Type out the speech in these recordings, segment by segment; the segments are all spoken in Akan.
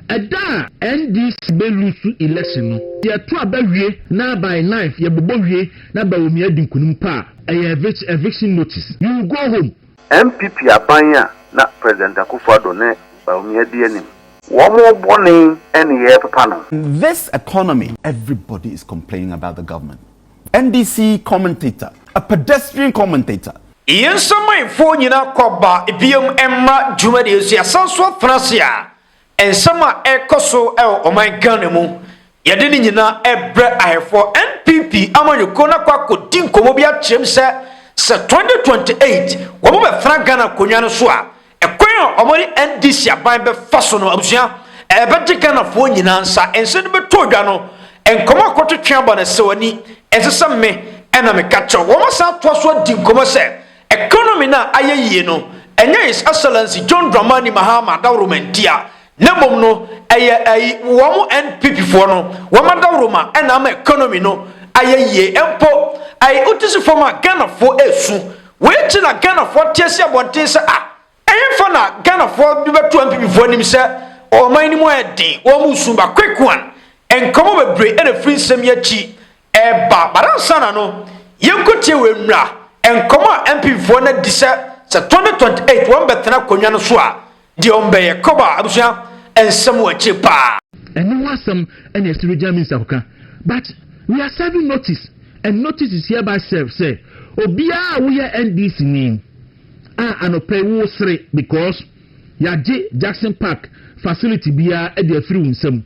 Ɛda a NDC bɛ lusu election no yɛ to aba wie na by ninth yɛ bobɔ wie na Bawumia di nkunim paa ɛyɛ evic eviction notice you will go home. NPP aban a na President Akuffo Addo ne Bawumia di anim. Wɔn bɔne ne yɛɛpepa no. This economy everybody is complaining about the government NDC commentator, a pedestrian commentator. Yɛn nsamanfoɔ nyinaa kɔ ba bio mma dwumadie so. Yɛasan so atena ase a nsɛm a ɛrekɔ so wɔ ɔman Ghana mu, yɛde ne nyinaa rebrɛ ahɛfoɔ. NPP amanyɔkuo no akɔ akɔdi nkɔmmɔ bi akyerɛ mu sɛ, sɛ 2028 wɔbɛtena Ghana akonnwa no so a, Ɛkwan a wɔde NDC aban bɛfa so no, abusua, ɛbɛgye Ghanafoɔ nyinaa nsa. Nse no bɛtɔ dwa no, nkɔmmɔ a kɔtwetwe aba no sɛ w'ani ɛnsɛ sɛ me ɛna meka kyerɛ wo. Wɔasan atoa so adi nkɔmmɔ sɛ economy no a ayɛ yie no, ɛnyɛ His Excellency John Dramani Mahama Daworo Mantia Na mmom no ɛyɛ ɛyi wɔn NPP foɔ no wɔn adawroma ɛna ama economy no ayɛ yie mpo ɛyi wote so fam a Ghana foɔ esu wei nti na Ghana foɔ te asi abɔnten sɛ ah ɛhefa na Ghana foɔ de bɛto NPP foɔ anim sɛ ɔman no mu ayɛ den wɔn mu su ba quick one nkɔmɔ bebree ɛna firi nsɛm yi akyi Ɛɛba, but ansa na no, yɛnkɔ tie wei mmra, Nkɔmmɔ a MPfoɔ no adi sɛ sɛ 2028 wɔn bɛtena akonnwa no so a, deɛ wɔn bɛyɛ. Kɔba, abusua nsɛm wɔ akyire paa. Ɛno ho asɛm na ɛsi Regional Minister kɔka, but we are serving notice and notice is hereby served sɛ obiara a woyɛ NDC ni a anɔpa yi woresere because. Yɛagye Jackson Park facility biara de afiri wo nsam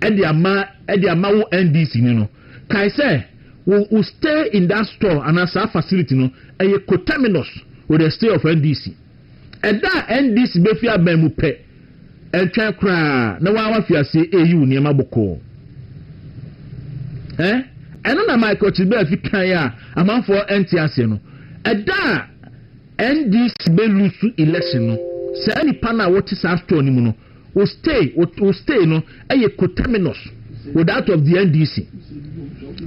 de ama de ama wo NDC ni no. Kae sɛ wo wo stay in that store anaa saa facility no ɛyɛ coterminous with the stay of NDC. Ɛda a NDC bɛfi aban mu pɛ, ɛntwɛn koraa na wo ara woafi aseɛ reyi wo nneɛma bɔkɔɔ. Eh? Ɛno na Michael Chilbea fi kaeɛ a amanfoɔ nte aseɛ no. Ɛda a NDC bɛ lusu election no saa nipa no a wɔte saa store no mu no wo stay wo stay no ɛyɛ coterminous with that of the NDC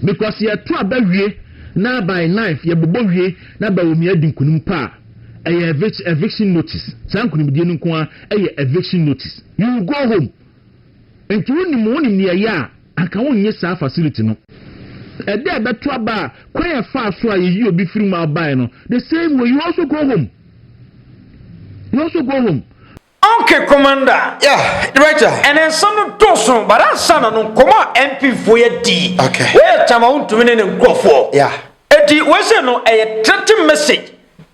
because yɛto aba wie na by ninth yɛbobɔ wie na Bawumia adi nkunim pa a ɛyɛ eviction, eviction notice saa nkunimdie no nko a ɛyɛ eviction notice you go home nti wonim wonim deɛ ɛyɛ a Anka wonnye saa facility no. Ɛda a ɛbɛto aba a kwan a ɛfaa so a yɛyi obi firi mu a ɔbaeɛ no, the same way you also go home. You also go home. Ok commander. Yeah, director. Ɛnɛ nsɛm no dɔɔso but ansa na no nkɔmmɔ a MP foɔ yɛ di Okay. wei yɛ time a wontumi ne ne nkurɔfoɔ Yeah. Enti wei sei no ɛyɛ threatening message.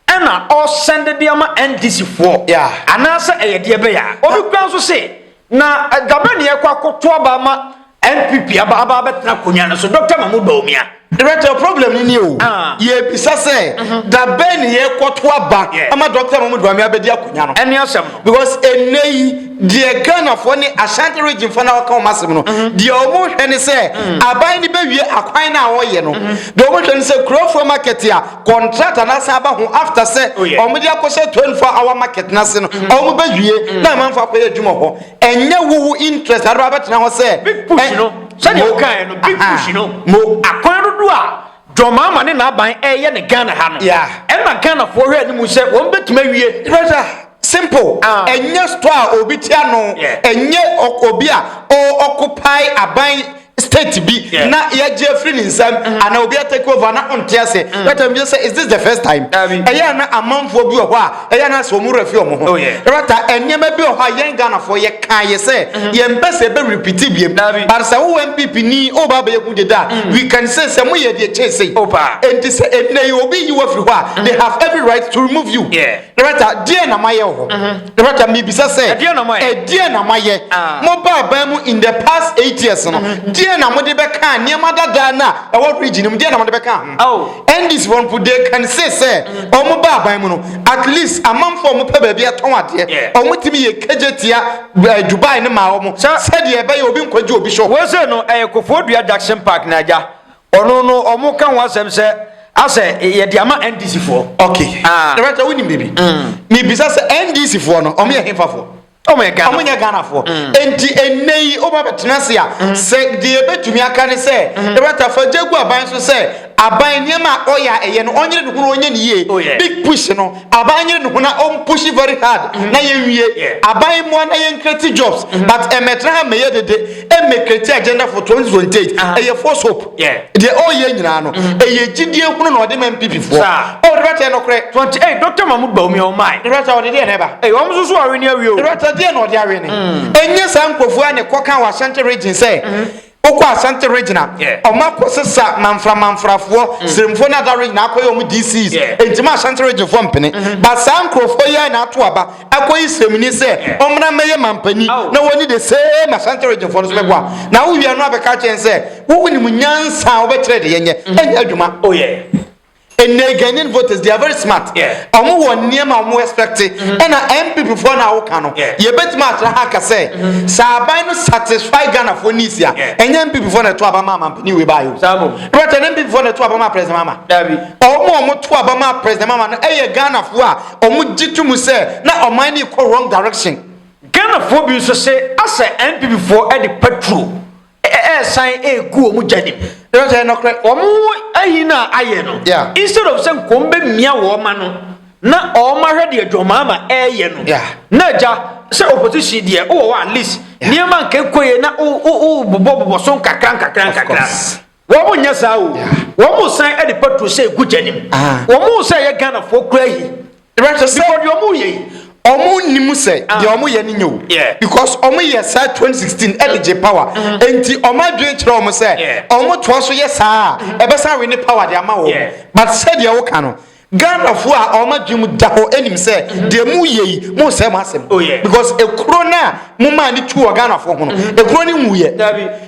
Ɛna ɔsɛnde de ama NDC foɔ anaasɛ ɛyɛ deɛ bɛyɛ a? Obi kura nso se na Gabe ne ɛkɔ akoto aba ama NPP aba aba abɛtena akonwa no so Doctor Mahmoud Bawumia. Director problem no nie o, yɛbisa sɛ da bɛn ne yɛkɔto aba ama Doctor Mahmoud Bawumia abɛdi akonwa no? Ɛne asɛm no. Because ɛnnɛ yi deɛ Ghana foɔ ne Ashanti region foɔ no a wɔka wɔn asɛm no deɛ wɔn hwɛ ne sɛ aban no bɛwie akwan no a wɔyɛ no, deɛ wɔn hwɛ ne sɛ Kurofoɔ market a contract anaasɛ aba ho after sɛ oh, wɔn de akɔhyɛ 24 hour market n'ase no mm. wɔn bɛ wie mm. na amanfo akɔyɛ adwuma hɔ ɛnyɛ wuhu interest adi wa bɛtena hɔ sɛ. big push no sɛdeɛ o kan yɛ no big push no mo akwan dodo a jɔnmaama ne n'aban ɛyɛ ne ghana ha no ɛna ghanafoɔ hwɛ anim sɛ wɔn bɛtumi awie. Simple ah. Ɛnyɛ store a obi te ano. Yeah. Ɛnyɛ obi a o occupy aban state bi yeah. na yɛgye afiri ne nsam mm -hmm. ana obi atake over na ɔnte ase mm. that time bi sɛ is this the first time ɛyɛ na amanfoɔ bi wɔ hɔ a ɛyɛ na sɛ ɔmo wura fi ɔmo ho ɛbɛta oh, nneɛma bi wɔ hɔ a yɛn ghanafoɔ yɛ kan yɛ sɛ mm-hmm. yɛn bɛ sɛ ɛbɛ repeat biem but sɛ wo npp ni o ba bɛyɛ kun de da mm. we can say sɛ mo yɛ deɛ kyɛn se oh, enti sɛ ɛnna yi obi yi wɔ firi hɔ a mm. they have every right to remove you. Yeah. Rebɛka, deɛ na mayɛ wɔ hɔ? Rebɛka, mebisa sɛ, Ɛdeɛn na moayɛ? ɛdeɛn na moayɛ? Ah. Mobaa aban mu in the past eight years no, deɛn na mode bɛkaa nneɛma dadaa no a ɛwɔ region no mu, deɛn na mode bɛkaa ho? Oh. NDC foɔ no mpo, they can say sɛ, wɔn baa aban mu no, at least amanfoɔ a wɔpɛ baabi atɔn adeɛ, Yeah. wɔn tumi yɛ kegye tia eh, Dubai no maa wɔn, Sir. sɛdeɛ ɛbɛyɛ obi nkɔgye obi shop. Wose no ɛyɛ kofoɔ dua Jackson Park na agya Ɔno no ɔmo ka ho asɛm sɛ asɛ yɛde ama NDC foɔ. Ok. Ah. Director wonim biribi? Mm. Mibisa sɛ NDC foɔ no ɔmo yɛ hefa foɔ? Ɔmo yɛ Ghana. Ɔmo yɛ Ghana foɔ. Mm. Enti ɛnɛ yi ɔmo abɛtena ase a mm. sɛ deɛ yɛbɛtumi aka ne sɛ mm. director fa gya gu aban so sɛ aban nneɛma a ɔyɛ a ɛyɛ no ɔnyere ne ho na ɔnyɛ ne yie. Oh, yeah. Big push no Aban nyere ne ho na ɔm pushi very hard na yɛn wie aban mmoa na yɛn create jobs but ɛmɛtra ha mmɛyɛ dede ɛmmɛ create agenda for 2028 ɛyɛ false hope deɛ ɔyɛ nyinaa no ɛyɛ gyidie hunu na ɔde ma NPP foɔ oh ne brata yɛ nɔkorɛ. 28 Doctor Mahmood Bawumia ɔmae. Ne brata ɔde deɛ na ɛba. Ei ɔm nso so awene awie o. Ne brata deɛ na ɔde awene. Ɛnyɛ saa nkurɔfoɔ a na ɛkɔ ka wɔ Ashanti region sɛ Wokɔ Asante Regina, wɔn akɔ sesa Manfra Manfrafoɔ, Siremfoɔ ne Ada Regina akɔ yɛ wɔn DCs. Ɛnti ma Asante Reginefoɔ mpene. But saa nkorɔfoɔ yi ara na ato aba akɔ yi Siremni sɛ ɔmmra mmɛyɛ Manpani na wɔnni the same Asante Reginefoɔ no so bɛboa. Na wo wie no abɛka akyerɛ yɛn sɛ wo wonim nyansa a wobɛkyerɛ de yɛnyɛ. Ɛnyɛ adwuma. Oh yeah. Ɛnɛ Ghanaian voters they are very smart. Ɔmo wɔ nneɛma a ɔmo expect. Mm-hmm. Ɛna NPP foɔ na awo ka no. Yɛbɛtumi akyerɛ ha ka sɛ mm-hmm. sɛ aban no satisfy Ghana foɔ needs a ɛnyɛ NPP foɔ na ɛto aba ma amampanin wei baayɛ. Ɛbɛtɛ ne NPP foɔ na ɛto aba ma president mama. Ɔmo a ɔmo to aba ma president mama no ɛyɛ Ghana foɔ a ɔmo gye to mu sɛ na ɔman no kɔ wrong direction. Ghana foɔ bi nso se asɛ NPP foɔ ɛde petrol. ɛresan ɛregu wɔn gya nim. Ɛno sɛ nɔkorɛ, wɔn ayi no a ayɛ no, yeah. instead of sɛ nkɔm bɛmia wɔn ma no, na wɔn ahwɛ deɛ dwɔmaama ɛreyɛ no. Yeah. Na agya sɛ opposition deɛ wowɔ hɔ at least nneɛma nka ɛkɔ yɛ na wobobɔbobɔ so nkakra nkakra nkakra. Wɔn nyɛ saa o. Wɔn san ɛde petrol sɛ ɛgu gya nim. Ah. Wɔn sɛ ɛyɛ Ghanafoɔ kura yi. Right, so because ọmụ yẹ yi ọmụ nnim sɛ ah. deɛ ɔmo yɛ no nyɛ o because ɔmo yɛ saa 2016 ɛde gye power mm-hmm. nti ɔmo adwene kyerɛ ɔmo sɛ ɔmo toa so yɛ saa a mm-hmm. ɛbɛsa we ne power de ama wɔn but sɛdeɛ woka no ghanafoɔ a ɔmo adwene mu da hɔ ɛnim sɛ mm-hmm. deɛ mu yɛ yi mo nsɛm asɛm oh, because ekuro no a momma ani tu wɔ ghanafoɔ ho no ɛkuro no nwuiɛ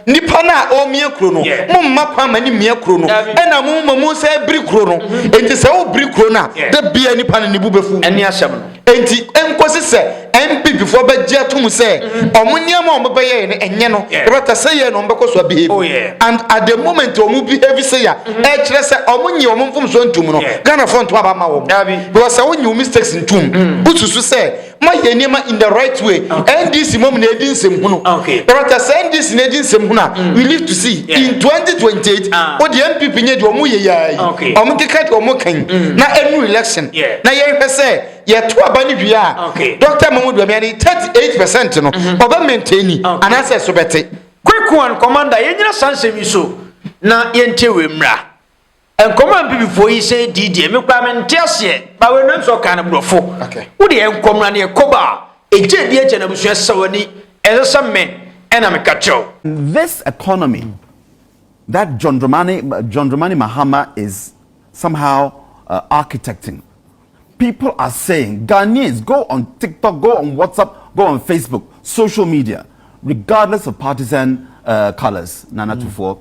nipa no a ɔmia kuro no momma kwan ma ne mmia kuro no ɛna mo ma mu sɛ biri kuro no enti sɛ wobiri kuro no a da bia nipa no ne bu bɛfu ɛne asɛm no enti ɛnkɔsi sɛ mppfoɔ bɛgye atom sɛ ɔmo nneɛma ɔmo bɛyɛ no ɛnyɛ no yɛbɛta sɛ yɛ na ɔmo bɛkɔ so abehave oh, and at the moment ɔmo behave sɛ ya mm-hmm. ɛkyerɛ sɛ ɔmo nye ɔmo mfomso ntom no ghanafoɔ ntom aba ma wɔn because sɛ wonye wo mistakes ntom mm. wosusu sɛ ma yɛ nneɛma in the right way ndc mom na edi nsɛm hunu rata sɛ ndc na edi nsɛm hunu a mm. we live to see in 2028 ah. o deɛ npp nyɛ deɛ ɔmo yɛ yaa yi ɔmo keka deɛ ɔmo kan mm. na ɛnu election na yɛhwɛ sɛ yɛto aba no wie a dɔkta mamu duamia ne 38 percent no mhm. ɔbɛ maintain ni anaasɛ ɛso bɛte quick one commander yɛnyina saa nsɛm yi so na yɛntie wei mmra Nkɔmɔ a mpibifoɔ yi sɛ dii deɛ me koraa mente aseɛ ba wei no nso ɔkaa no borɔfo wo deɛ nkɔ mmra ne ɛkɔ ba a ɛgye di agya no abusua sɛ w'ani ɛsɛ sɛ me ɛna meka kyerɛ wo. This economy that John Dramani, John Dramani Mahama is somehow uh, architecting. People are saying, Ghanaians, go on TikTok, go on WhatsApp, go on Facebook, social media, regardless of partisan uh, colors, Nana mm. Tufo.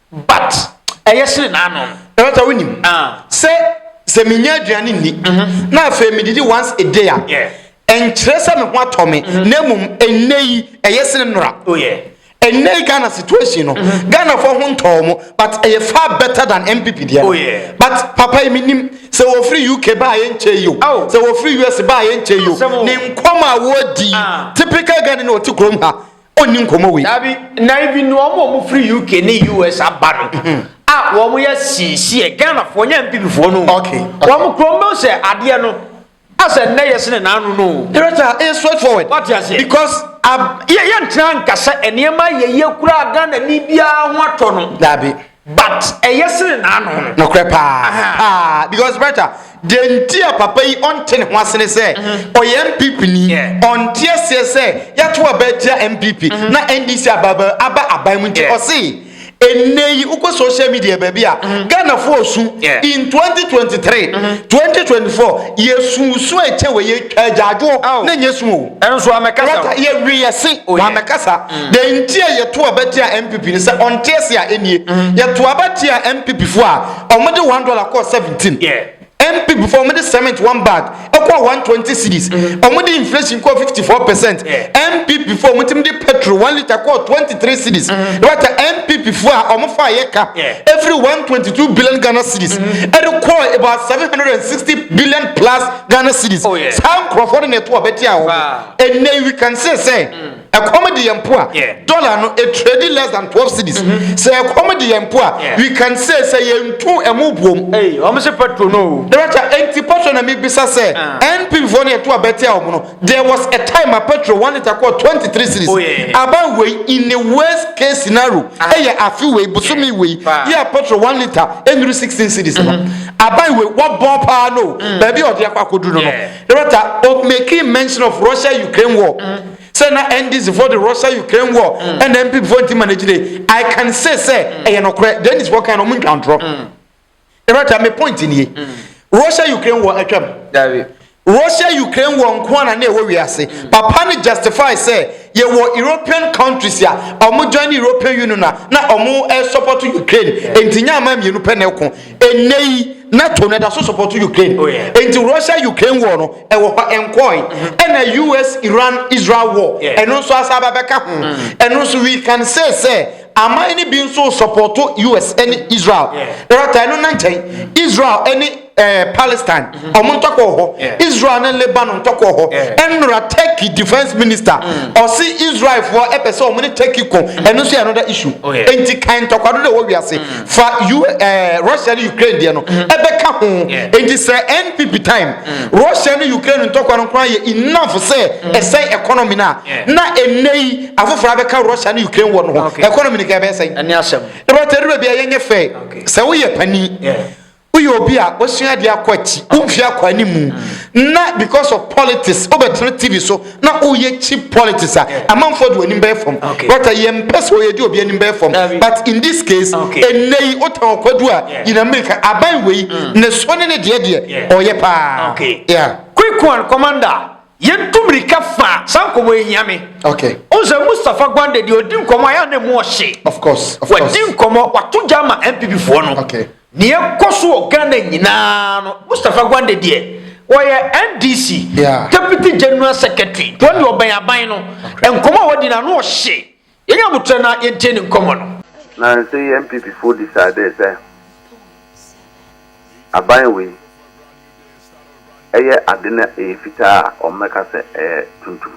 but ɛyɛ sere n'ano. ɛwɔ sɛ wonim ah. sɛ sɛ menya aduane nni mhm. na afei medidi once a day a ɛnkyerɛ sɛ me ho atɔ me mhm. na mmom ɛnnɛ yi ɛyɛ sere nnora oh, ɛnɛ yi ghana situation no mhm. ghana fo ho ntɔɔ mo but ɛyɛ far better than npp deɛ oh, but papa yi menim sɛ wɔfiri uk baa yɛ nkyɛ yi o oh. sɛ wɔfiri us baa yɛ nkyɛ yi o ne nkɔm a wɔdi ah. typical ghana na ɔte kurom ha ɔnni nkɔmmɔ wei. Dabi, na even wɔn a wɔfiri UK ne US aba no mhm. a wɔn yɛ siesie Ghanafoɔ nyɛ mpibifoɔ no wɔn kurom no sɛ adeɛ no asɛ nnɛ yɛ sene n'ano no. Director, ɛyɛ straight forward. Wate aseɛ. Because yɛntena nka sɛ nneɛma yɛyɛ koraa Ghana ni biara ho atɔ no. Dabi. but ɛyɛ sene n'ano no. nokorɛ paa paa because brata deɛ nti a papa yi ɔnte ne ho ase ne sɛ mhm. ɔyɛ mpp ni ɔnte aseɛ sɛ yɛato aba atia mpp mhm. na ndc aba aba aban mu nti ɔse ɛnɛ yi wokɔ social media baabi a mhm. ghanafoɔ su in 2023 2024 yɛsusu ɛkyɛ wɔ yɛtwa agyaadwoɔ na nyɛ su o Ɛnso amɛka sa o. Lata yɛ we yɛ se wa mɛka sa. Dɛn nti a yɛ to aba tia NPP no sɛ ɔnte ase a ɛnie yɛ to aba tia NPP foɔ a ɔmo de one dollar kɔɔ seventeen NPP foɔ ɔmo de cement one bag ɛkɔɔ one twenty cedis ɔmo de inflation kɔɔ fifty four percent NPP foɔ ɔmo timi de petrol one litre kɔɔ twenty three cedis lata NPP foɔ a ɔmo faa yɛ ka ɛfiri one twenty two billion Ghana cedis ɛde kɔɔ about seven hundred and sixty billion plus Ghana cedis. Oh, yeah. Saa nkurɔfoɔ no na ɛto ɔbɛte a wɔn. Ɛnɛ we can say sɛ mm. ɛkɔm de yɛn mpo a dollar no a trade less than twelve cedis. Mm-hmm. Sɛ ɛkɔm de yɛn mpo a we can say sɛ yɛn tu ɛmu buom. Wɔn sɛ petrol no. Dɛbɛkyɛ ɛnti petrol na mi bisa sɛ ah. NPP foɔ no yɛ to ɔbɛte a wɔn no. There was a time a petrol one litre kɔɔ twenty three cedis. Aba wei in the worst case scenario ɛyɛ ah. afe wei bosome wei yɛ a petrol one litre ɛnuru sixteen cedis no. Mm-hmm. Aba wei wɔbɔn paa no mm. baabi a ɔde akɔ akɔduru no no. Rata o making mention of Russia Ukraine war. Mm-hmm. Sɛ na NDC for the Russia Ukraine war mm. ɛna MP for nti manage de I can say sɛ ɛyɛ nɔkorɛ Dennis wɔkan na ɔmo ntwa ntorɔ. Erata, me point nie. Russia Ukraine war atwam. Dabi. Russia Ukraine war nko ara na ɛwɔ wiase. Mm. Papa ne justify sɛ yɛwɔ European countries a wɔn join ne European Union na na wɔn eh, support Ukraine. Nti nyɛ ama mmienu pɛ na ɛko. Ɛnɛ yi NATO na ɛda so support Ukraine. Oh, Nti Russia Ukraine war no ɛwɔ hɔ ɛnkɔɔe. Mm-hmm. Ɛna US Iran Israel war ɛno nso asa abɛka ho. Mm. Ɛno nso we can say sɛ. Aman no bi nso sɔpɔto US ne Israel. Ɛrata no na nkyɛn Israel ne eh, Palestine ɔmo mm-hmm. ntɔkwa wɔ hɔ. Israel ne Lebanon ntɔkwa wɔ hɔ. Ɛnora Turkey defense minister mm. ɔse Israelfoɔ ɛpɛ sɛ ɔmo ne Turkey ko. Mm. Ɛno nso yɛ another issue. Oh, Enti kan ntɔkwa do na ɛwɔ wiase. Mm. Fa U eh, Russia ne Ukraine deɛ no mm-hmm. ɛbɛka ho. Enti sɛ NPP time Russia ne Ukraine ntɔkwa no koraa yɛ enough sɛ ɛsɛn economy no a na ɛnɛ yi afoforo abɛka Russia ne Ukraine wɔ no ho economy ne ka ɛbɛyɛ sɛn ɛne asɛm na bɛtɛ aduru bia yɛnyɛ fɛ sɛ woyɛ pani woyɛ obi a wosua adeɛ akɔ akyi womfi akɔ anim mu mm. na because of politics wobɛtena tv so na woyɛ cheap politics a amanfoɔ de w'anim bɛyɛ fam bɛtɛ yɛmpɛ sɛ ɔyɛ de obi anim bɛyɛ fam but in this case ɛnɛ yi wotɛn ɔkwadu a yina mmirika aban wei mm. ne so ne ne deɛ deɛ ɔyɛ paa quick one commander Yɛtu mmirika fa a, saa nkɔmmɔ yi hia me. Okay. Wohu sɛ Mustapha Gwande deɛ ɔdi nkɔmmɔ a, ɛyɛ a na ɛmu ɔhye. Of course, of course. Wadi nkɔmmɔ, wato gya ama NPP foɔ no. Okay. Nea ɛkɔ so wɔ Ghana nyinaa no, Mustapha Gwande deɛ, wɔyɛ NDC Yeah. Deputy General Secretary. Nti ɔno deɛ ɔbɛn aban no. Nkɔmmɔ a wadi no, ano ɔhye. Yɛnyɛ aboterɛ na yɛntie ne nkɔmmɔ no. Nanso yi NPP foɔ decidee sɛ aban wei ɛyɛ ade na ɛyɛ fitaa a wɔn bɛka sɛ ɛyɛ tuntum.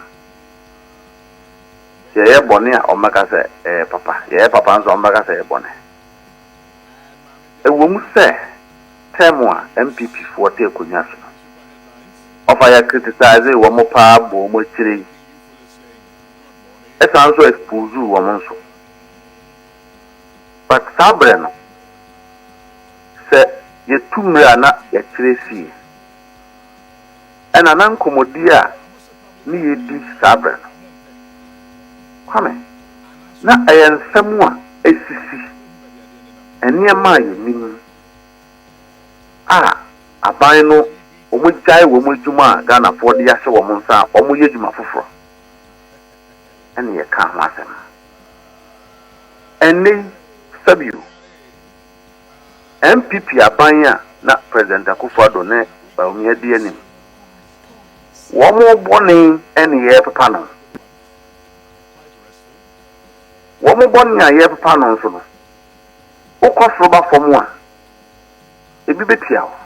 Sɛ yɛyɛ bɔne a wɔn bɛka sɛ ɛyɛ papa, yɛyɛ papa nso a wɔn bɛka sɛ ɛyɛ bɔne. Ɛwɔ mu sɛ term a NPP foɔ te akonnwa so no, wɔfa yɛ criticisee wɔn paa bɔ wɔn akyire yi, ɛsan nso expose wɔn nso but saa berɛ no sɛ yɛtu mmerɛ a na yɛakyerɛ asie ɛna na nkɔmmɔdie a ne yɛdi saa berɛ no Kwame na ɛyɛ nsɛm a ɛsisi nneɛma a yɛnim a aban no wɔn gyae wɔn adwuma a Ghanafoɔ de ahyɛ wɔn nsa a wɔn yɛ adwuma foforɔ ɛna yɛ kaa ho asɛm ɛnɛ yi sɛbio NPP aban a na president Akufo Addo ne Bawumia di anim wɔn bɔne ɛna yɛ pepa no wɔn bɔne a yɛ pepa no nso no. Wokɔ soro ba fam a, ebi betia wo.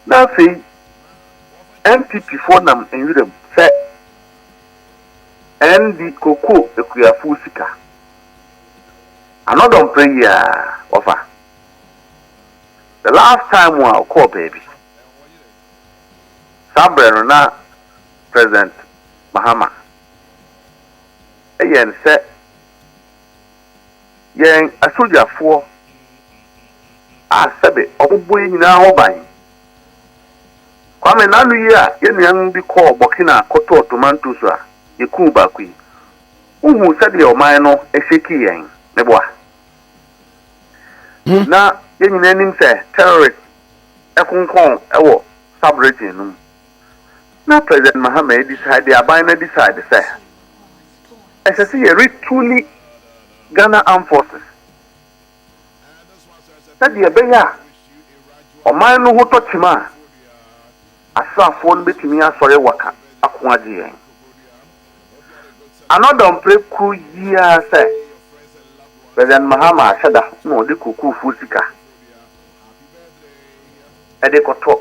Na afei NPP foɔ nam nwiram sɛ ND kokoo akuafoɔ sika. Anɔdɔ mprɛ yi ara wɔfa. The last time a wokɔɔ baabi, saa berɛ no na President Mahama yɛ nsɛ. Yɛn asogyafoɔ a sɛbe wɔbobɔ yɛn nyinaa ho ban. Kwame, n'ano yi a yɛn nuanom bi kɔɔ Burkina kɔtɔɔ tomantos a yɛkuu baako yi, wohuu sɛdeɛ ɔman no hyɛkii yɛn? Meboa. Na yɛn nyinaa nim sɛ terrorists konkɔn wɔ sub-region no mu. na President Mahama adisa de aban no adisa de sɛ ɛsɛ sɛ yɛ retuli Ghana Armed Forces sɛdeɛ ɛbɛyɛ a ɔman no ho tɔ kyima a asraafoɔ no bɛtumi asɔre waka ako agye yɛn. Anɔda ɔmpere koro yi ara sɛ President Mahama ahyɛ da na ɔde kurokurofoɔ sika ɛde kɔtɔ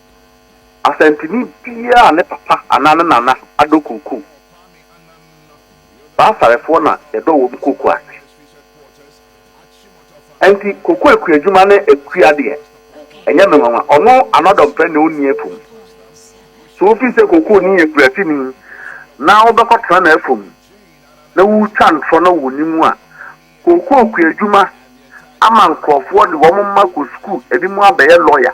Asanteni biara a ne papa anaa ne nana adɔ kookoo. Saa Sarefoɔ na yɛdɔ wɔn kookoo ase. Ɛnti kookoo akuadwuma ne akua deɛ, ɛnyɛ me nwanwa. Ɔno anɔdɔmpɛ na ɔnni afum. So wofii sɛ kookooni yɛ kurasini na wobɛkɔ tena n'afum na wotwa ntorɔ na wonni mu a? Kookoo kuadwuma ama nkorɔfoɔ de wɔn mma kɔ sukuu, ɛbinom abɛyɛ lɔya.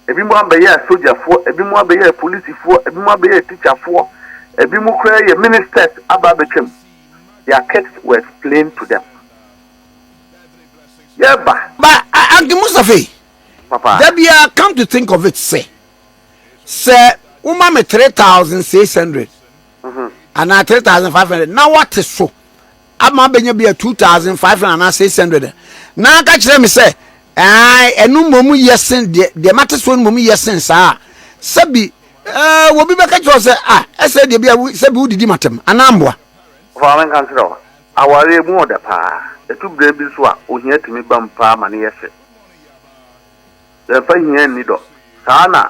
Ebinom abɛyɛɛ sogyafoɔ, ebinom abɛyɛɛ polisifoɔ, ebinom abɛyɛɛ tikyafoɔ, ebinom koraa yɛ ministers aba abɛtwam. Their kids were explained to them. Yɛba. Ba Anki Mustafe, Papa. da biara come to think of it sɛ, sɛ woma me 3600 anaa 3500 na woate so ama abɛnya bi a 2500 anaa 600 a na aka kyerɛ me sɛ ɛno mmom yɛ sen deɛ deɛ mate soɔ no mmom yɛ sen saa a sɛbi ɛɛ wɔbi bɛka kyerɛ sɛ a ɛsɛ deɛ bi a sɛbi wodidi matam anaa mboa ɔfa me nka nkyerɛ hɔ awareɛ mu ɔdɛ paa ɛtu berɛ bi nso a ohia tumi bam paa ma ne yɛ hye yɛmfa hia nni dɔ saa na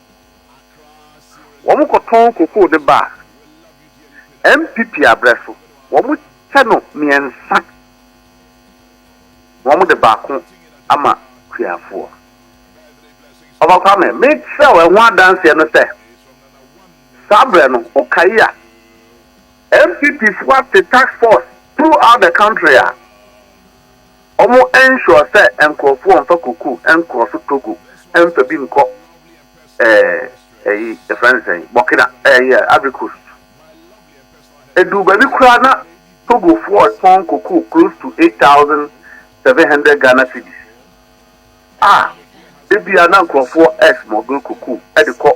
Wɔn kɔ tɔn kokoo de ba a, ɛmpipi abrɛ so. Wɔn kyɛ no mmiɛnsa na wɔn de baako ama kuafoɔ. Ɔfa Kwame, me kyerɛ wo ɛho adanseɛ no sɛ, saa berɛ no, wo kae a, NPP foɔ ate task force through out the country a, Ɔmo ensure sɛ nkorɔfoɔ nfa koko nkɔ so Togo nfa bi nkɔ ɛɛ ɛyi yɛfrɛ no sɛn Burkina ɛɛ yɛ Ivory Coast. Eduu baabi koraa na Togofoɔ retɔn koko close to eight thousand seven hundred Ghana cedis a da biara na nkorɔfoɔ ɛɛ smuggle koko ɛde kɔ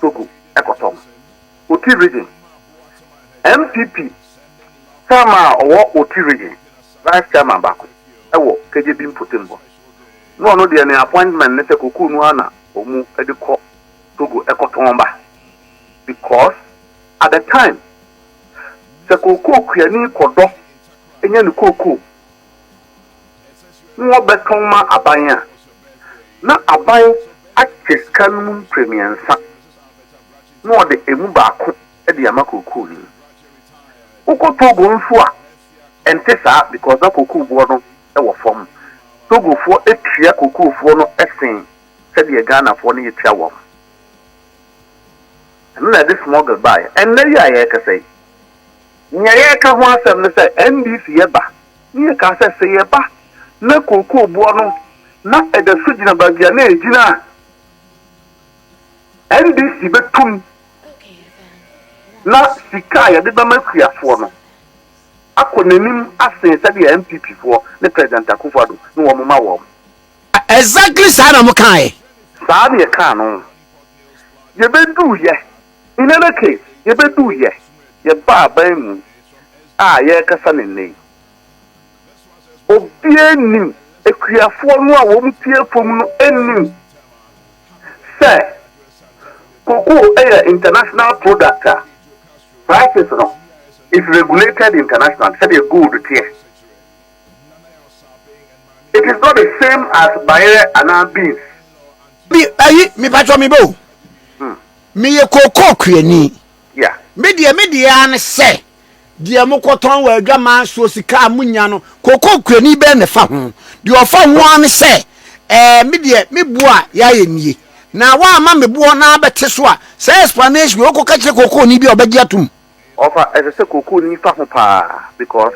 Togo ɛkɔtɔn. Oti Region, NPP chairman a ɔwɔ Oti Region, vice chairman baako wɔ KJB Mpotembo, na ɔno deɛ ne appointment ne sɛ kokoo no ara na ɔmu de kɔ Togo kɔtɔn ba because at the time sɛ kokoo kuani kɔdɔ nya ne kokoo na ɔbɛtɔn ma aban a, na aban akyɛ sika no mu mpremiɛnsa. na ɔde emu baako de ama kookoo-ni. Wokɔ Togo nso a, ɛnte saa because na kookooboɔ no wɔ fam. Togofoɔ tua kookoofoɔ no sen sɛdeɛ Ghanafoɔ no yɛtua wɔn. Ɛno na ɛde smuggle baeɛ. Ɛnnɛ yi a yɛrekasa yi, nea yɛreka ho asɛm ne sɛ NDC ba, ne yɛkaa sɛ sɛ yɛba na kookooboɔ no na ɛda so gyina baabi a na ɛgyina a, NDC bɛtu mu na sika a yɛde bɛma akuafoɔ no akɔ n'anim asen sɛdeɛ NPP foɔ ne President Akuffo Addo ne wɔn ma wɔn. Exactly saa na mo kaaɛ. Saa na yɛkaa no. Yɛbɛduuiɛ, in any case, yɛbɛduuiɛ, yɛbaa aban mu a yɛrekasa no nnɛ yi, Obiara nnim, akuafoɔ no a wɔn ti yɛ fam no nnim sɛ cocoa yɛ international product a prices no is regulated internationally sɛdeɛ gold teɛ. It is not the same as bayerɛ anaa beans. Me ayi mepatwɔ me bɛ o. Meyɛ cocoa kuani. Yeah. Me deɛ me deɛ ara ne sɛ. Deɛ mokɔtɔn wɔ adwaman soɔ sika a monya no, kokokurani bɛn na ɛfa ho? Deɛ ɔfa ho ara ne sɛ, Ɛɛ, me deɛ, me boɔ a yɛayɛ nie, na woamma me boɔ na abɛte so a, saa explanation wei, wokɔka kyerɛ kokooni bi a, ɔbɛgye atom. Ɔfa, ɛsɛ sɛ kokooni fa ho paa because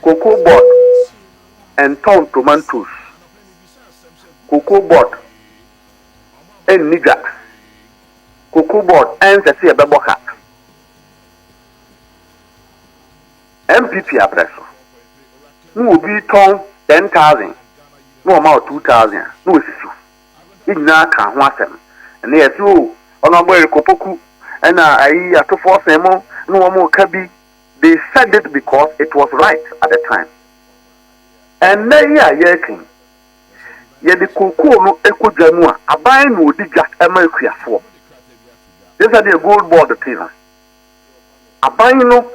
cocoa board ntɔn tomatoes, cocoa board nni dwa, cocoa board ɛnsɛ sɛ yɛbɛbɔ ka. NPP abrɛ so na obi tɔn ten thousand na wɔma wo two thousand a na wasi so. Yɛn nyinaa kaa ho asɛm. Ɛnnɛ yɛse o Honourable Eric Opoku ɛna ayi Atofoɔ Sen mo ne wɔn reka bi. They said it because it was right at the time. Ɛnnɛ yi a yɛreka yi. yɛde kookoo no kɔ dwa mu a, aban na ɔdi dwa ma akuafoɔ. Gye sɛdeɛ Gold Board te no, aban no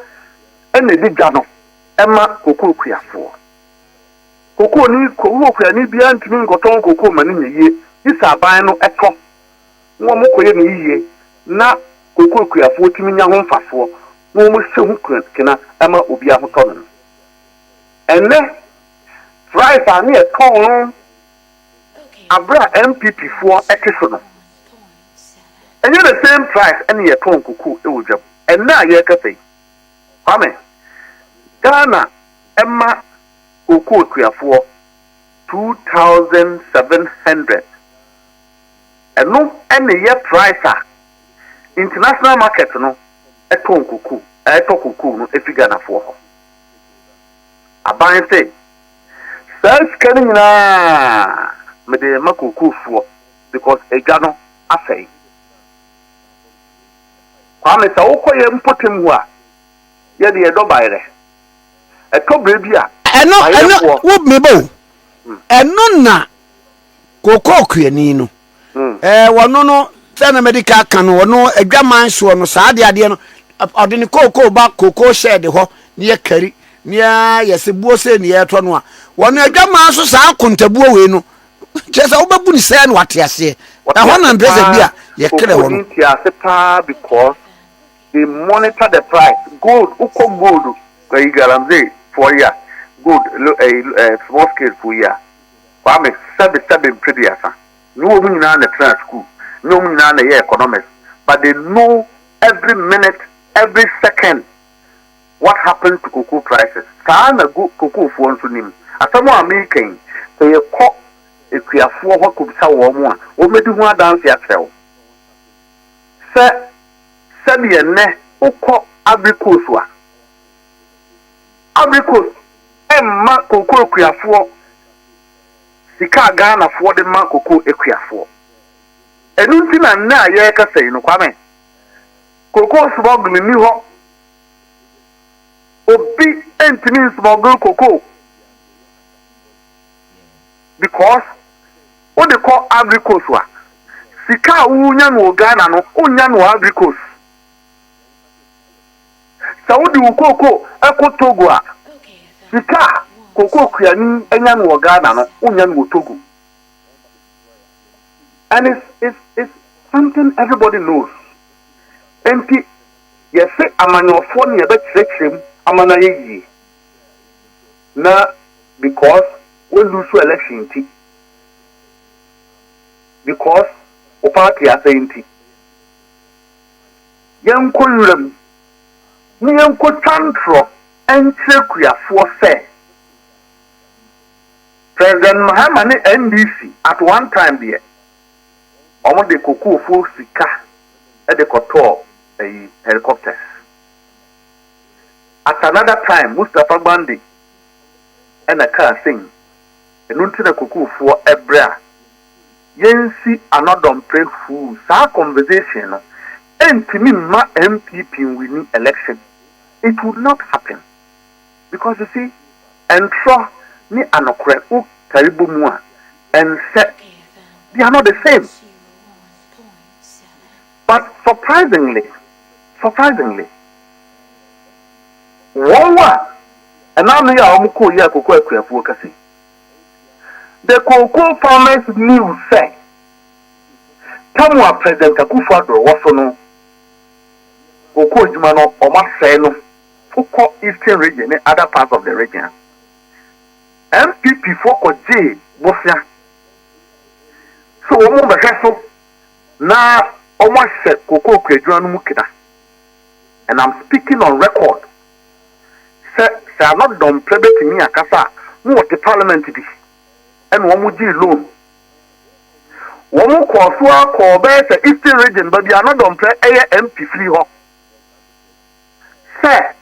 na ɛdi dwa no ma kookoo kuafoɔ. Kookooni, kookoo kuani biara ntumi nkɔtɔn kookoo ma no nya yie, gye sɛ aban no tɔ na wɔkɔyɛ no yie na kookoo kuafoɔ tumi nya ho mfasoɔ na wɔhyɛ ho kena ma obiara ho tɔ no. Ɛnnɛ, Price a ne ɛtɔn no aberɛ a NPP foɔ te so no, ɛnyɛ the same price ɛne yɛtɔn koko wɔ dwa mu ɛnnɛ a yɛrekasa yi. Kwame, Ghana ɛma kokoo tuafoɔ two thousand seven hundred, ɛno ɛne yɛ price a international market no ɛtɔn koko ɛtɔ koko no ɛfiri Ghanafoɔ hɔ. Aban se, Saa sika no nyinaa mede rema kookoofoɔ because adwa no asɛe. Kwame, sɛ wokɔ yɛn mpɔtam hɔ a, yɛde yɛdɔ bayerɛ. Ɛtɔ berɛ bi a, Ɛno, ɛno, bayerɛfoɔ. wo, meba o. Ɛno na kookoo kuani no. Wɔno no sɛ na mɛde ka ka no ɔno adwaman soɔ no saa adeɛ adeɛ no ɔde ne kookoo ba kookoo hyɛɛde hɔ ne yɛ kari ne yɛ yɛ se buo sei ne yɛtɔ no a wɔno adwaman so saa akontabuo wei no kyerɛ sɛ wobɛbu ne sɛɛ na wate aseɛ ɛhɔ na mpɛ sɛ bi a yɛkerɛ wɔ no ti ase paa because they monitor the price gold wokɔ gold ɛyi galamsey foɔ yi a gold ɛyi small scale foɔ yi a Kwame sɛbe sɛbe mfe duasa ne wɔn nyinaa na ɛtraa sukuu ne wɔn nyinaa na ɛyɛɛ economics but they know every minute every second what happened to cocoa prices saa na go cocoa foɔ nso nim asɛm a mereka yi sɛ yɛkɔ akuafoɔ hɔ kɔbisa wɔn a wɔn bɛdi ho adanse akyerɛ wo sɛ sɛdeɛ nnɛ wokɔ Ivory Coast a Ivory Coast mma cocoa akuafoɔ sika a Ghanafoɔ de ma cocoa akuafoɔ. Ɛno nti na nnɛ a yɛrekasa yi no, Kwame, cocoa smuggle nni hɔ. Obi ntumi nsmuggle cocoa because wode kɔ Ivory Coast a, sika a wonya no wɔ Ghana no, wonnya no wɔ Ivory Coast. Sɛ wode wo kooko kɔ Togo a, sika a kooko kuani nya no wɔ Ghana no, wonnya no wɔ Togo. And it's, it's, it's something everybody knows. Enti, yɛse amanyɔfoɔ no yɛbɛkyerɛkyerɛ mu ama no ayɛ yie. Na because wo lose election nti, because wo party asɛe nti. Yɛnkɔ nwura mu, na yɛnkɔtwa ntorɔ nkyerɛ akuafoɔ sɛ President Mahama ne NDC at one time deɛ, wɔde kokoofo sika de kɔtɔɔ ayi, helicopters. At another time, Mustapha Gbande na ɛkaa sei, ɛno nti na kokoofoɔ brɛ a Yɛnsi ano dɔmpɛ huu saa conversation no ɛntumi mma NPP nwini election it would not happen because you see ntorɔ ne anokorɛ wo kari bɔ mu a ɛnsɛ they are not the same but surprisingly surprisingly wɔn a ɛna ano yɛ a wɔn kɔɔ yɛ akoko akuafoɔ kɛse. The Cocoa Farmers News sɛ, Tɛm a President Akufo Addo wɔ so no, cocoa adwuma no wɔasɛe no kɔ Eastern Region ne other parts of the region. NPP foɔ kɔgyee bosea sɛ wɔbɛhwɛ so na wɔahyɛ cocoa kuadwuma no mu kena and I'm speaking on record. sɛ sɛ ana dɔmprɛ bɛtumi akasa a na wɔte parliament bi ɛna wɔn gyee loan wɔn kɔɔ so ara kɔɔ bɛyɛ sɛ eastern region ba bi ana dɔmprɛ ɛyɛ mp firi hɔ sɛ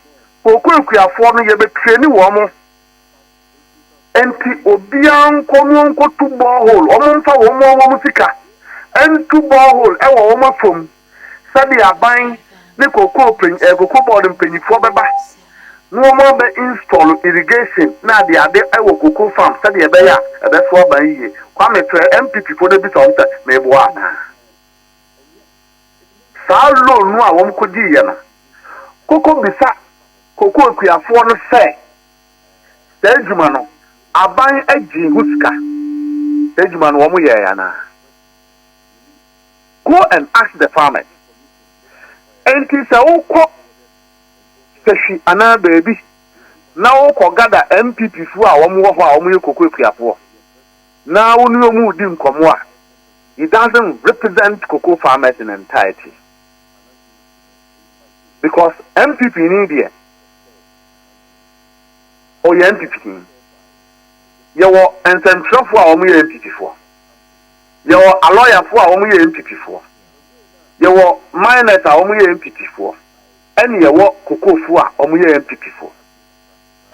okuakuafoɔ no yɛbɛtrɛni wɔn Enti obiara nkɔ no nkotu borehole, wɔmfa wɔn a wɔwɔ mu sika ntu borehole wɔ wɔn afam sɛdeɛ aban ne kokoo panyin ɛɛ kokoo board mpanyifoɔ bɛba na wɔn abɛ install irrigation na adeade wɔ kokoo farm sɛdeɛ ɛbɛyɛ a ɛbɛso aba yie. Kwame frɛ NPP foɔ na bisa wɔn sɛ meboa anaa. Saa loan no a wɔn kɔgyiiɛ no, kokɔ bisa kokoo akuafoɔ no sɛ. Saa adwuma no aban gyee ho sika? Saa adwuma no wɔn yɛɛ anaa? Go and ask the farmers. Enti sɛ wo kɔ sɛhwi anaa baabi na wo kɔ gada NPP foɔ a wɔn wɔ hɔ a wɔn yɛ koko akuafoɔ na wo ne wɔn redi nkɔmɔ a he doesn't represent koko farmers in entirety because NPP ni deɛ ɔyɛ NPPni. Yɛwɔ nsɛmtwerɛfoɔ a wɔyɛ NPPfoɔ. Yɛwɔ alɔyafoɔ a wɔyɛ NPPfoɔ. Yɛwɔ miners a wɔyɛ NPPfoɔ. Ɛne yɛwɔ kokofoɔ a wɔyɛ NPPfoɔ.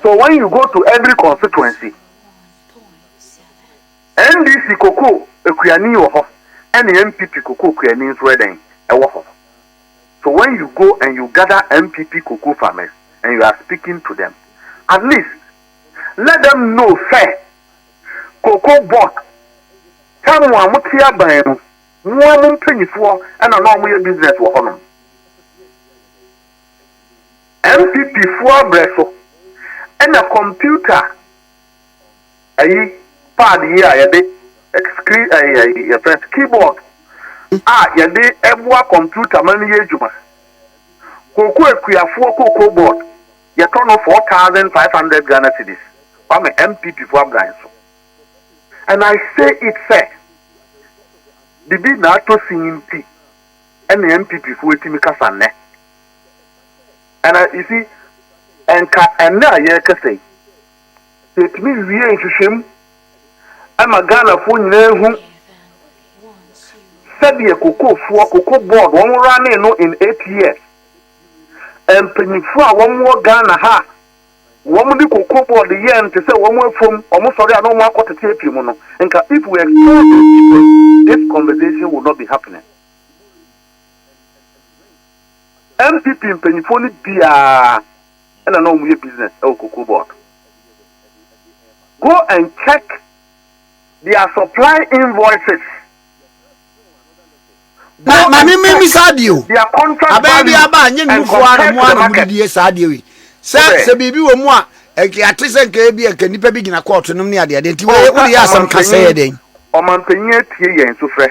So when you go to every constituency, NDC kokoo kuani wɔ hɔ, ɛne NPP kokoo kuani nso ɛdɛn, ɛwɔ hɔ. So when you go and you gather NPP cocoa farmers and you are speaking to them, at least let them know sɛ cocoa board sɛ mo a mote aban mu, mo ara mo mpanyifoɔ na na wɔyɛ business wɔ hɔnom. NPP foɔ abrɛ so na computer ayi pad yi a yɛde screen ɛyi ɛyi yɛfrɛ no keyboard a yɛde ɛboa kɔmputa ma no yɛ adwuma. Kooko akuafoɔ kooko board yɛtɔ no four thousand five hundred Ghana cedis ba me MPP foɔ abran so and I say it sɛ bibi na atɔ sin nti ɛna MPP foɔ atumi kasa nnɛ and I you see ɛnka ɛnɛ a yɛrekasa yi. Yɛtumi wie nhwehwɛmu ma Ghanafoɔ nyinaa hu sɛdeɛ kokofoɔ, cocoa board, wɔn running no in eight years. Mpanyinfoɔ a wɔn wɔ Ghana ha, wɔn de cocoa board yɛ nte sɛ wɔn afom, wɔn sɔre a na wɔn akɔ tete afie mu no. Nka if we expose these people, this conversation will not be happening. NPP mpanyinfoɔ no biara. na na wɔyɛ business wɔ cocoa board. Go and check their supply invoices. Go na maame mi mi saa adeɛ o abɛn bi aba a nye nnufo a na mo a na mo didi yɛ saa adeɛ yi sɛ sɛ biribi wɔ mu a nka ate sɛ nka ebi nka nipa bi gyina kɔɔto nom ne adeɛ adeɛ nti wɔyɛ wɔde yɛ asɛm ka sɛ yɛ dɛn. ɔmanpanyin atie yɛn sufrɛ.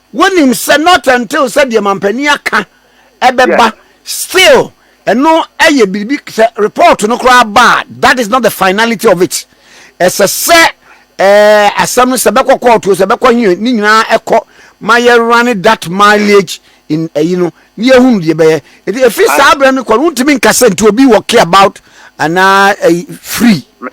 Wonim sɛ not until sɛ deɛ mampanin aka ɛbɛba still ɛno ɛyɛ biribi sɛ report no koraa ba a that is not the finality of it ɛsɛ sɛ ɛɛ asɛm no sɛ bɛkɔ court o sɛ bɛkɔ he ne nyinaa ɛkɔ ma yɛ running that mileage in ɛyi no ne yɛ hunu deɛ bɛyɛ ɛti ɛfiri saa berɛ no kɔ no wontumi nka sɛ nti obi wɔ care about anaa ɛyi free.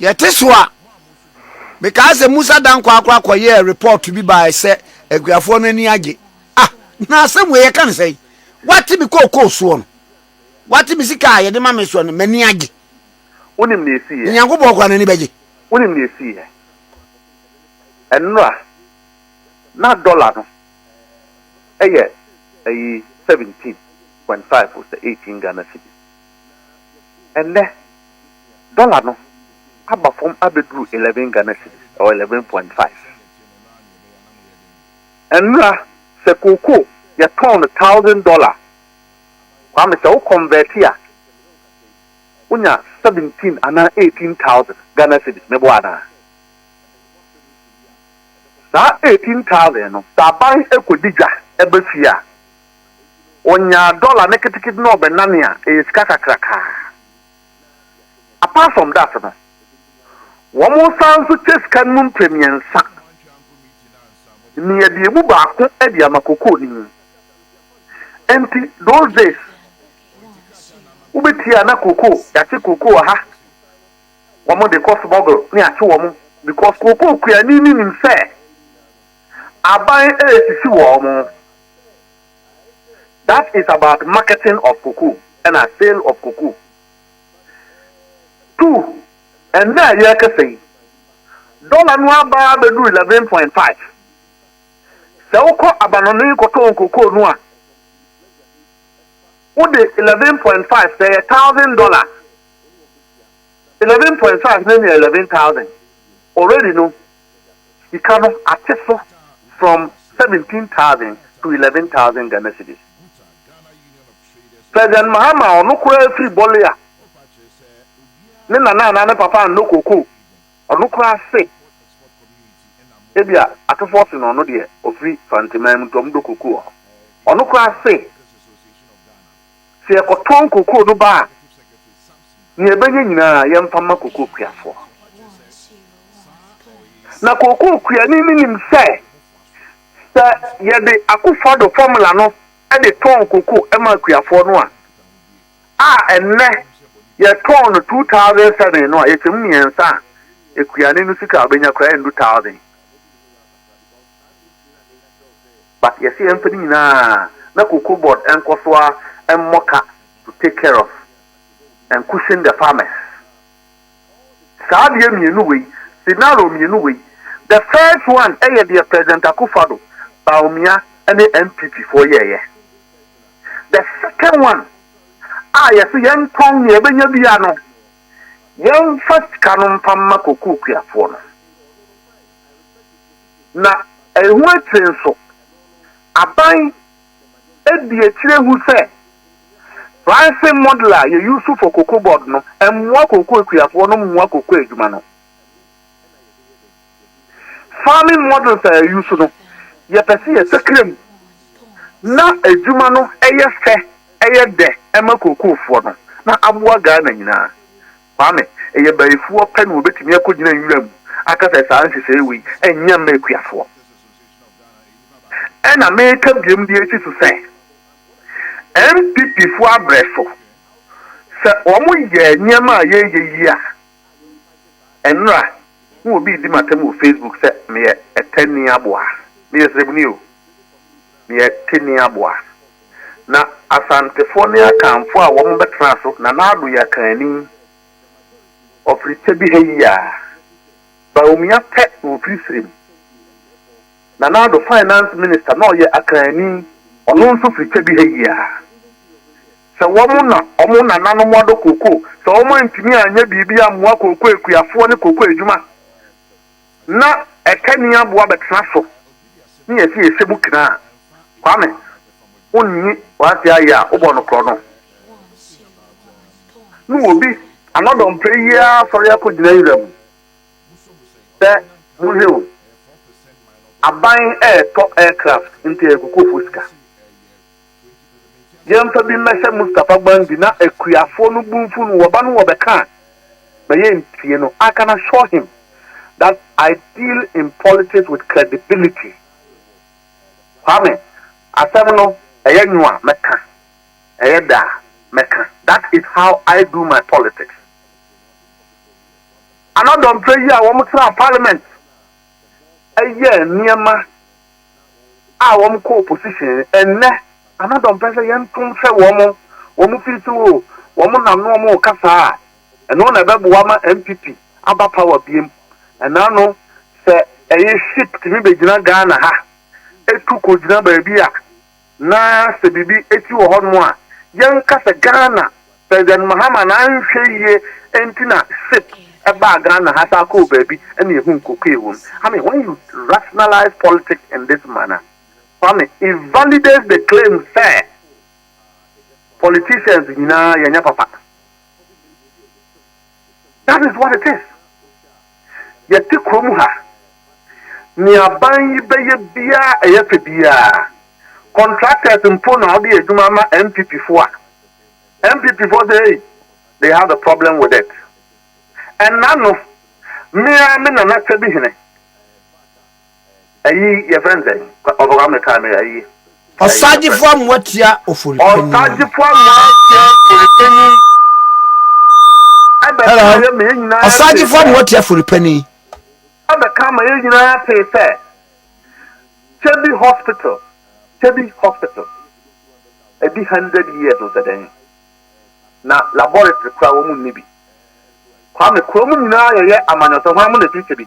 yɛte so a mekaa sɛ musa dan korakora kɔyɛɛ report bi bae sɛ akuafoɔ no ani agye ah na asɛm wei yɛka ne sɛn wate me kookoo soɔ no wate me sika a yɛde ma me soɔ no m'ani agye wonim ne ɛsiiɛ nyankopɔn kora n'ani bɛgye wonim ne ɛsiiɛ ɛnora na dɔla no ɛyɛ ɛyi 17.5 sɛ 18 Ghana cedis Ɛnnɛ, dɔla no aba fam abɛduru eleven Ghana cedis, ɛwɔ eleven point five. Ɛnnora, sɛ kookoo yɛtɔn no thousand dɔla, Kwame, sɛ wo kɔnvɛɛte a, wonya seventeen anaa eighteen thousand Ghana cedis, meboa anaa? Saa eighteen thousand no, sɛ aban kɔdi dwa ba fie a, Ɔnyaa dɔla ne ketekete na ɔbɛnane a, ɛyɛ sika kakraka ara. Apart from that no, wɔsan nso kyɛ sika no mu mprɛmiɛnsa nea deɛ mu baako de ama kokooni. Enti those days, wobɛtie a na koko, yɛakye koko wɔ ha, wɔde kɔ smuggle na yɛakye wɔn because koko kuani no nim sɛ aban resisi wɔn. That is about marketing of cocoa ɛna sale of cocoa. Two, ɛnnɛ a yɛrekasa yi, dɔla no aba abɛduru eleven point five. Sɛ wokɔ abanɔne kɔtɔn cocoa no a, wode eleven point five sɛ yɛ thousand dollars. Eleven point five no nya eleven thousand already no. Sika no ate so from seventeen thousand to eleven thousand Ghana cedis. President Mahama a ɔno koraa firi Bole a ne nana anaa ne papa annɔ koko, ɔno koraa se ebia atofoɔ se no ɔno deɛ ɔfiri Fanteman mu nti wɔdɔ koko wɔ hɔ. Ɔno koraa se. Sɛ yɛkɔtɔn kokoo no ba a, nea yɛbɛnya nyinaa, yɛmfa mma kokookuafoɔ. Na kokookuani no nim sɛ, sɛ yɛde Akufo-Addo fɔmula no de tɔn kokoo ma akuafoɔ no a, a ɛnnɛ yɛtɔn no two thousand seven no a, yɛkyɛ mu mmiɛnsa a, akuani no sika a ɔbɛnya koraa rendu thousand. but yɛse yɛmfa ne nyinaa na cocoa board nkɔ so ara mmɔ ka to take care of and cushion the farmers. Saa adeɛ mmienu wei, scenario mmienu wei, the first one yɛ deɛ President Akuffo Addo, Bawumia ne NPP foɔ yɛɛyɛ. The second one a yɛse yɛntɔn nea yɛbɛnya biara no, yɛmfa sika no mfa mma cocoa kuafoɔ no. Na ɛho akyire nso, aban adi akyire hu sɛ pricing model a yɛ use for cocoa board no mmoa cocoa akuafoɔ no mmoa cocoa adwuma no. Farming models a yɛ use no, yɛpɛ sɛ yɛsakra mu na adwuma no yɛ fɛ, yɛ dɛ ma cocoa foɔ no na aboa Ghana nyinaa. Kwame, Ɛyɛ bayifoɔ pɛ na wɔbɛtumi akɔgyina nwura mu aka sɛ saa nhyehyɛeɛ wei nyɛ mma akuafoɔ. Ɛna meka biom de asi so sɛ, NPPfoɔ abrɛ so. Sɛ wɔyɛ nneɛma a yɛreyɛ yi a, ɛnora na obi redi m'atam wɔ Facebook sɛ meyɛ Ɛtɛnni aboa. Meyɛ srɛbuni o. Deɛ Teni aboa. Na Asantefoɔ ne Akanfoɔ a wɔn bɛtena so Nana Addo yɛ Akanni. Ɔfiri Kyebi ha yi a. Bawumia pɛ na ɔfiri Sirem. Nana Addo Finance Minister na ɔyɛ Akanni. Ɔno nso firi Kyebi ha yi a. Sɛ wɔn na wɔn nananom adɔ cocoa, sɛ wɔn antumi anyɛ biribi ammoa cocoa akuafoɔ ne cocoa adwuma. Ná ɛka nni aboa bɛtena so ne yɛn sɛ yɛhyɛ mu kena a, Kwame, wonnye w'ase ayɛ a wobɔ no korɔ no. Ne obi ano dɔmpɛ yi ara sɔre akɔgyina nwura mu sɛ monhwɛ o, aban ɛretɔ aircraft nti ɛyɛ kokoofo sika. Yɛmfa bi mmɛhyɛ Mustapha Gbandi na akuafoɔ no bu mfu no wɔba no wɔbɛka a na yɛntie no I can assure him that I deal in politics with credibility Kwame asɛm no ɛyɛ nwo a mɛka ɛyɛ dɛ a mɛka that is how I do my politics Ana dɔmprɛ yi a wɔn tra parliament ɛyɛ nneɛma a wɔn kɔ opposition ɛnnɛ ana dɔmpɛ sɛ yɛn to nhwɛ wɔn wɔn firi so o wɔn nam no wɔn reka saa a ɛno na ɛbɛboa ma NPP aba power biem ɛna no sɛ ɛyɛ ship tumi bɛgyina Ghana ha ɛtu kɔgyina baabi a Na sɛ biribi akyi wɔ hɔnom a, yɛnka sɛ Ghana President Mahama n'anhwɛ yie nti na ship baa Ghana ha saa kɔɔ baabi na ɛhuu cocaine wɔ mu. I mean, when you rationalize politics in this manner, Kwame, it validates the claim sɛ politicians nyinaa yɛnyɛ papa. That is what it is. Yɛte kurom ha. Nea aban yi bɛyɛ biara ɛyɛ fɛ biara. Contractors mpo na wɔde yɛ adwuma ama NPP fo a, NPP fo sɛ ei, they have a problem with it. Ɛnna no, me ara me Nana Kyɛbihene. Ayi yɛfrɛ no sɛ ɔbɔka me kaa me ayi. Ɔsagyefo amoa tia oforipanyin. Ɔsagyefo amoa tia oforipanyin. Ɛbɛka yɛ mɛ yɛn nyinaa. Ɔsagyefo amoa tia oforipanyin. Ɛbɛka ma yɛn nyinaa pee sɛ Kyebi hospital Kyebi hospital ɛdi hundred years o sɛ dɛn na laboratory kora wɔn nni bi. Kwame kurom nyinaa yɛyɛ amanyɔsɛm hwan mo na ɛfiri Kyebi.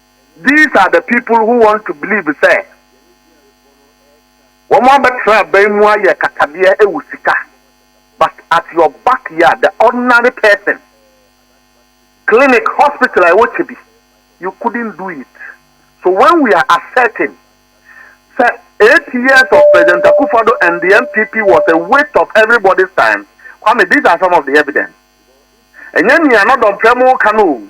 These are the people who want to believe sɛ wɔn abɛtra aban mu ayɛ katadeɛ ɛwɔ sika but at your back yard the ordinary person clinic hospital a ɛwɔ kyebi you couldn't do it so when we are asserting sɛ eight years of President Akufado and the NPP was a waste of everybody's time Kwame these are some of the evidence ɛnyɛ nea nɔdɔmprɛ mo ka no o.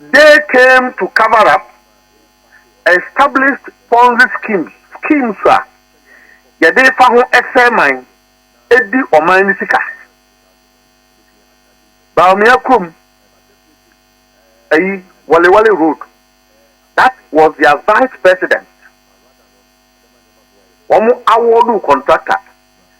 They came to cover up established Ponzi schemes, schemes a yɛde fa ho sɛe man, di ɔman no sika. Bawumia kurom, ayi, Walewale Road, that was their vice president, wɔn awɔɔdoo contractor.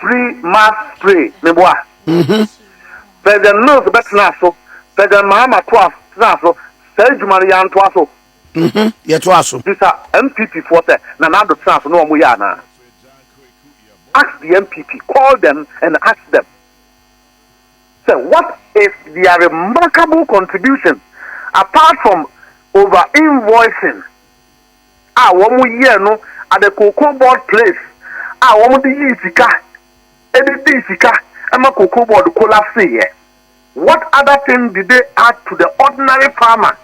free mass spray ne boa mhm. president mills bɛtena so president mahama toa tena so saa adwuma no yɛantoa so mhm. yɛtoa so bisa mpp foɔ sɛ na nado tena so na ɔmo yɛ anaa ask the mpp call them and ask them sɛ what is their remarkable contribution apart from over invoicing a wɔyɛɛ no at the cocoa board place a wɔde yii sika de dii sika ma cocoa board collapsee ɛ? What other thing did they add to the ordinary farmer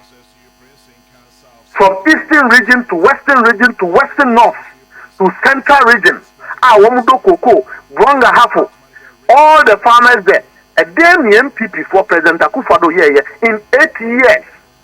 from eastern region to western region to western north to central region a wɔdɔ cocoa, Brong-Ahafo, all the farmers there? Ɛdeɛn ne NPP foɔ, President Akufo-Addo yɛɛyɛ in eight years?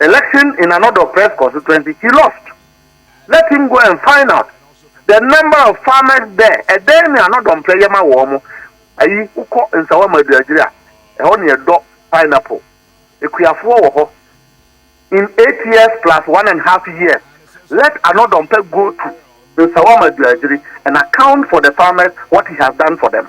Election in Anodol Press Constituency, she lost. Let him go and find out the number of farmers there. Ɛdɛn ne Anodol mpɛ yɛ ma wɔn mo? Ayi, wokɔ Nsawa Maduagyiri a, ɛhɔ ne ɛdɔ pineapple. Akuafoɔ wɔ hɔ. In eight years plus one and half years, let Anodol mpɛ go to Nsawa Maduagyiri and account for the farmers what he has done for them.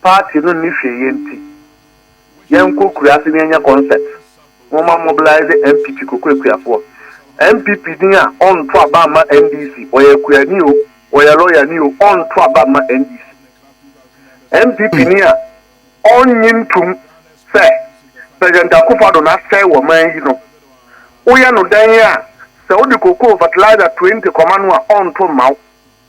Party no nni hwee yɛ nti yɛnkɔ kuraase na yɛnyɛ concert momma mobilise MP Twikoko Akuafoɔ NPP din a ɔnto aba mma NDC ɔyɛ akuani o ɔyɛ lawyer ni o ɔnto aba mma NDC NPP ni a ɔnnye ntom sɛ President Akuffo Addo na asɛe wɔ man yi no woyɛ no dɛn a sɛ wode cocoa fertilizer 20 kɔma no a ɔnto mma wo.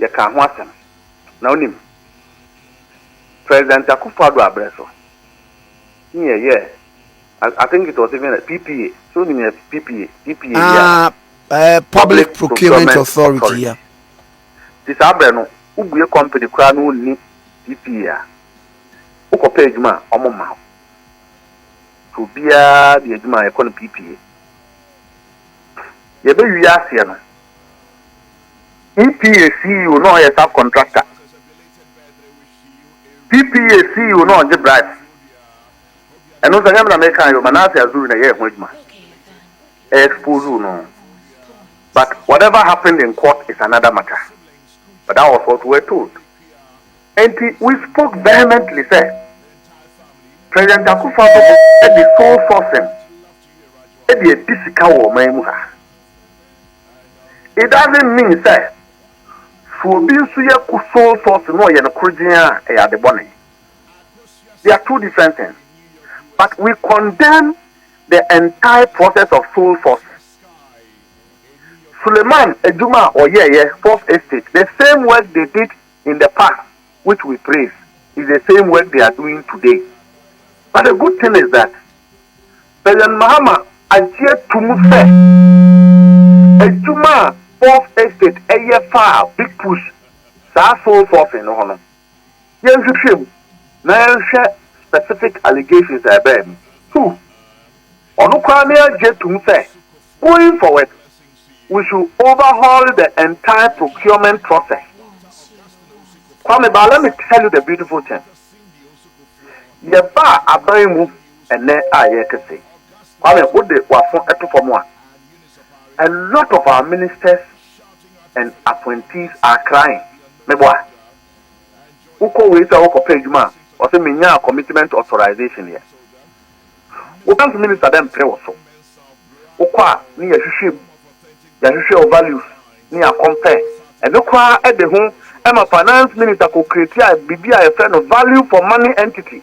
yɛkaa ho asɛm. Na wonim, President Akufo-Addo aberɛ so ne yɛyɛɛ, I think it was even a PPA, so wonim yɛ PPA, PPA yi a, Ah, eh, Public Procurement Authority, yeah. Nti saa berɛ no, wobue company koraa na wonni PPA a, wokɔpɛ adwuma a, wɔmma wo. Nti obiara de adwuma a, yɛkɔ no PPA. Yɛbɛwie aseɛ no, PPA CEO na ɔyɛ sub contractor. PPA CEO na ɔngye bribe. Ɛno nso ɛnyɛ me na meka yɛ o, Manasseh Azuri na ɛyɛɛ ho adwuma. Ɛ exposed no. But whatever happened in court is another matter. But that was what we were told. Enti we spoke vehemently sɛ President Akufo-Addo de sole sourcing de adi sika wɔ ɔman mu ha. It doesn't mean sɛ so obi nso yɛ kusoo sɔɔso na ɔyɛ no korogyen a ɛyɛ ade bɔne. They are two different things. But we condemn the entire process of soul sourcing. Suleman adwuma a ɔyɛeɛ, Fourth Estate, the same work they did in the past which we praise is the same work they are doing today but the good thing is that President Mahama agye tom sɛ adwuma a Fourth Estate yɛ faa big push saa soul sourcing no ho no yɛnhwehwɛ mu na yɛnhwɛ specific allegations a ɛbaa mu. Two, ɔno koraa ne agye tom sɛ going forward We should overhaul the entire procurement process Kwame but let me tell you the beautiful thing yɛbaa aban mu ɛnɛ a yɛrete se Kwame wode w'afo to fam a a lot of our ministers and appointees are crying meboa wokɔ wei sɛ wokɔpɛ adwuma a ɔse menyaa commitment authorization yɛ. Wo health minister dɛ mmpere wo so. Wo kɔ a ne yɛ hwehwɛ mu, yɛ hwehwɛ wo values ne yɛ compare. Ɛno koraa de ho ma finance minister kɔ create a biribi a yɛ frɛ no value for money entity.